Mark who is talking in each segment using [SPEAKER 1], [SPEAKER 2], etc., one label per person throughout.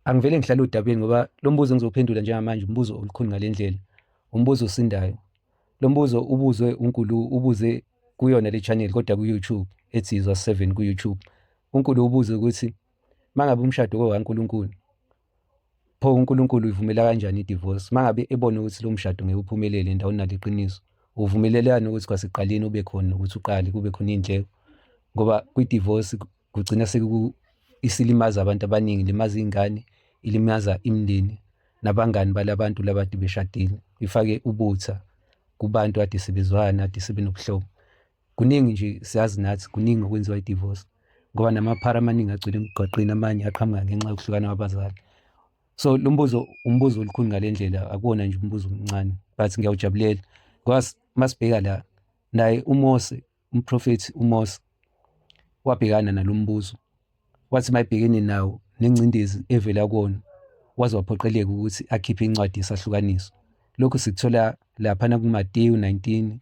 [SPEAKER 1] angivele ngihlale odabeni ngoba lo mbuzo engizophendula njengamanje umbuzo olukhulu ngale ndlela umbuzo osindayo lo mbuzo ubuzwe unkulu ubuze kuyona le channel kodwa ku-youtube ethi izwa 7 ku-youtube unkulu ubuze ukuthi uma ngabe umshado kowankulunkulu pho unkulunkulu uyivumela kanjani i-divorce uma ngabe ebone ukuthi lo mshado ngeke uphumelele endaweni naliqiniso uvumelelani ukuthi kwasekuqaleni ube khona ukuthi uqale kube khona iy'ndleko ngoba kwi-divorce kugcina isilimaza abantu abaningi ilimaza iy'ngane ilimaza imindeni nabangani balabantu labade beshadile ifake ubutha kubantu ade sebezwana ade sebenobuhlobo kuningi nje siyazi nathi kuningi okwenziwa i-divorce ngoba namaphara amaningi agcwele emgwaqeni amanye aqhamuka ngenxa yokuhlukana kwabazali so lo mbuzo umbuzo olukhulu ngale ndlela akuwona nje umbuzo omncane but ngiyawujabulela ngoba masibheka la naye umose Umprofethi uMose wabhekana nalo mbuzo, wathi uma ebhekene nawo nengcindezi evela kuwona, waze waphoqeleka ukuthi akhiphe incwadi yesahlukaniso. Lokhu sikuthola laphana kuMateyu 19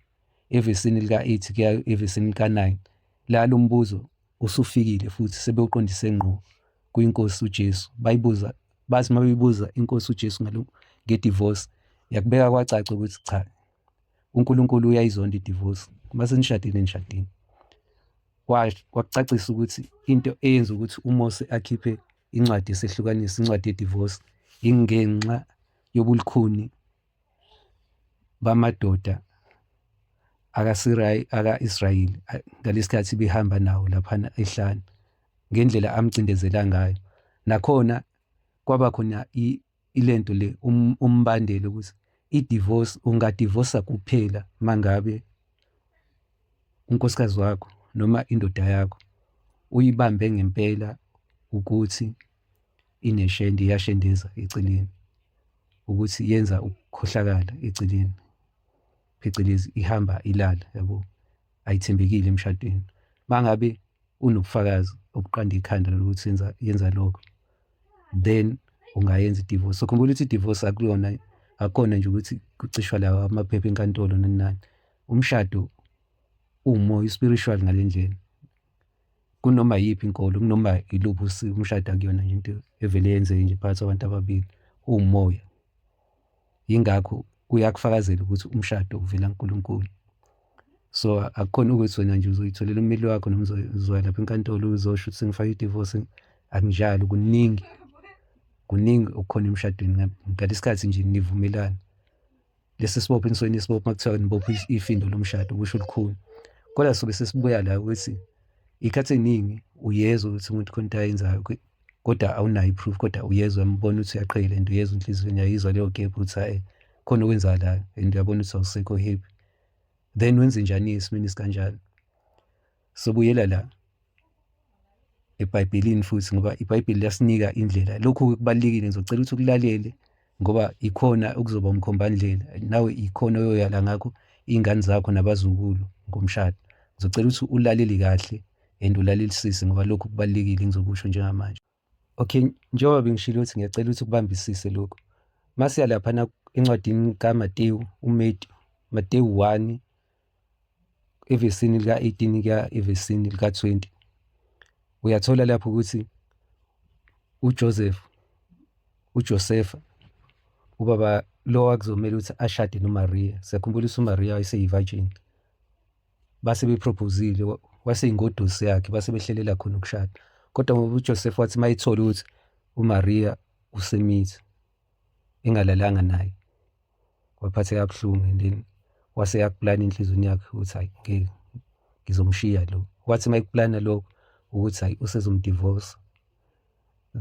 [SPEAKER 1] evesini lika-8 kuya evesini lika-9 la lo mbuzo usufikile futhi sebewuqondise ngqo kwiNkosi uJesu. Bayibuza bathi uma beyibuza iNkosi uJesu ngedivorce yakubeka kwacaca ukuthi cha uNkulunkulu uyayizonda idivorce uma senishadile nishadile wakucacisa ukuthi into eyenza ukuthi uMose akhiphe incwadi yesehlukanisa incwadi yedivorce ingenxa yobulukhuni bamadoda aka-israyeli ngalesi khathi behamba nawo laphana ehlane ngendlela amcindezela ngayo nakhona kwaba khona ilento le um, umbandela ukuthi i-divorce ungadivosa kuphela mangabe unkosikazi wakho noma indoda yakho uyibambe ngempela ukuthi ineshende iyashendeza eceleni ukuthi yenza ukukhohlakala eceleni phecelezi ihamba ilala yabo ayithembekile emshadweni mangabe unobufakazi obuqanda ikhanda lokuthi yenza yenza lokho then ungayenza idivorce so khumbula ukuthi idivorce akuyona akona nje ukuthi kucishwa lawa amaphepha enkantolo nani nani umshado umoya spiritual ngalendlela kunoma yiphi inkolo kunoma iluphi umshado akuyona nje into evele yenzeke nje phakathi kwabantu ababili umoya yingakho uyakufakazela ukuthi umshado uvela kuNkulunkulu so akukhona ukuthi wena nje uzoyitholela ummeli wakho noma uzoya lapha enkantolo uzosho ukuthi sengifake idivorce akunjalo kuningi kuningi okukhona emshadweni ngalesi khathi nje nivumelana lesi sibopho inisweni isibopho uma kuthiwa nibopho ifindo lomshado kusho olukhulu kodwa sobe sesibuya la ukuthi ikhathi eningi uyezwa ukuthi umuntu khona into ayenzayo kodwa awunayo iproof kodwa uyezwa umbona ukuthi uyaqhela lento uyezwa inhliziyweni yayizwa leyo gap ukuthi hayi khona okwenzakalayo and uyabona ukuthi awusekho happy then wenze njani esimeni sikanjalo sobuyela la ebhayibhelini futhi ngoba ibhayibheli liyasinika indlela lokhu kubalulekile ngizocela ukuthi ukulalele ngoba ikhona okuzoba umkhombandlela nawe ikhona oyoyala ngakho iy'ngane zakho nabazukulu ngomshado ngizocela ukuthi ulaleli kahle and ulalelisise ngoba lokhu kubalulekile ngizokusho njengamanje okay njengoba bengishilo ukuthi ngiyacela ukuthi ukubambisise lokhu masiya laphana encwadini kamatewu umetewu matewu 1 evesini lika-18 kuya evesini lika-20 uyathola lapho ukuthi uJoseph uJosefa ubaba lo wakuzomela ukuthi ashade noMaria siyakhumbula ukuthi uMaria wayeseyivirgin base beproposile waseyingodusi yakhe base behlelela khona ukushada kodwa ngoba uJoseph wathi mayithole ukuthi uMaria usemithi engalalanga naye waphatheka kabuhlungu and then wase yakuplana enhlizweni yakhe ukuthi hayi ngeke ngizomshiya lo wathi uma ekuplana lokho ukuthi hayi usezomdivorce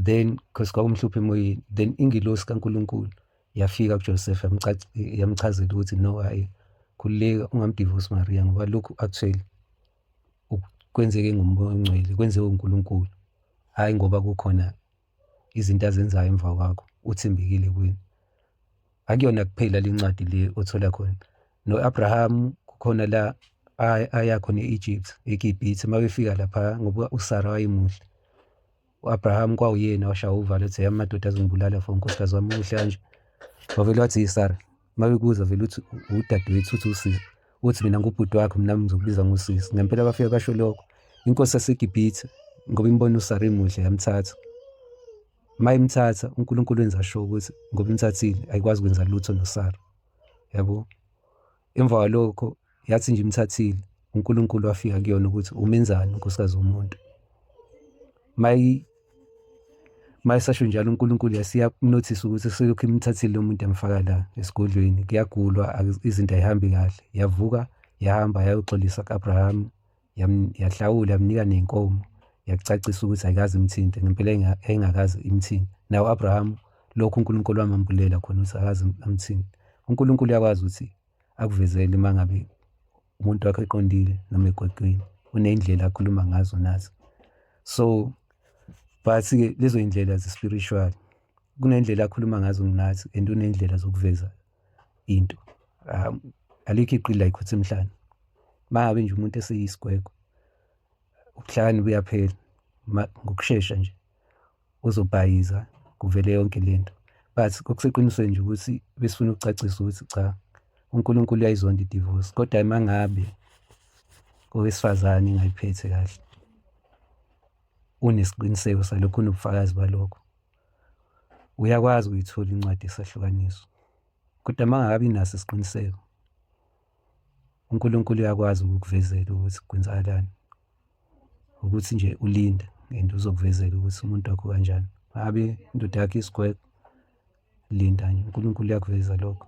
[SPEAKER 1] then because kwakumhlupha emoyeni then ingilosi kaNkulunkulu yafika kuJoseph yamchazela ukuthi no hayi khululeka ungamdivorce Maria ngoba lokhu actually kwenzeke ngomoya ongcwele kwenziwe uNkulunkulu hayi ngoba kukhona izinto azenzayo emva kwakho uthembekile kwini akuyona kuphela le ncwadi le othola khona no-abrahamu kukhona la aya khona e-egypt egibhithe uma befika lapha ngoba usara wayemuhle u-abrahamu kwawuyena washaya uvalo ethi yami madoda azongibulala for unkosikazi wami muhle kanje wavele wathi yisara Uma bekuza vele uthi udadewethu uthi usisi, uthi mina ngubhuti wakho mina ngizokubiza ngosisi. Ngempela bafike basho lokho. Inkosi yaseGibhithe ngoba imbona uSara emuhle yamthatha. Uma imthatha uNkulunkulu wenza sure ukuthi ngoba imthathile ayikwazi ukwenza lutho noSara. Yabo? Emva kwalokho yathi nje imthathile uNkulunkulu wafika kuyona ukuthi umenzani unkosikazi womuntu mayi mayisasho njalo uNkulunkulu yasiya notice ukuthi selokhu imthathile lo muntu emfaka la esigodlweni kuyagulwa izinto ayihambi kahle yavuka yahamba yayoxolisa ku-abraham yahlawula yamnika nenkomo yakucacisa ukuthi ayikazi imthinte ngempela yayingakazi imthinte nawo u-abraham lokhu unkulunkulu wamambulela khona ukuthi akazi amthinte unkulunkulu uyakwazi ukuthi akuvezele uma ngabe umuntu wakho eqondile noma egwaqweni uney'ndlela akhuluma ngazo nazo so but-ke lezo y'ndlela ze-spiritual kuney'ndlela akhuluma ngazo nginathi and uney'ndlela zokuveza into um alikho iqili la ikhotha emhlane uma ngabe nje umuntu eseyisigwegwe ubuhlakani buyaphela ngokushesha nje uzobhayiza kuvele yonke lento but okuseqinisweni nje ukuthi besifuna ukucacisa ukuthi cha uNkulunkulu uyayizonda idivorce kodwa imangabe owesifazane ingayiphethe kahle unesiqiniseko salokho unobufakazi balokho uyakwazi ukuyithola incwadi esahlukaniso kodwa mangakabi naso isiqiniseko uNkulunkulu uyakwazi ukukuvezela ukuthi kwenzakalani ukuthi nje ulinde and uzokuvezela ukuthi umuntu wakho kanjani abe indoda yakhe isigwegwe linda nje uNkulunkulu uyakuveza lokho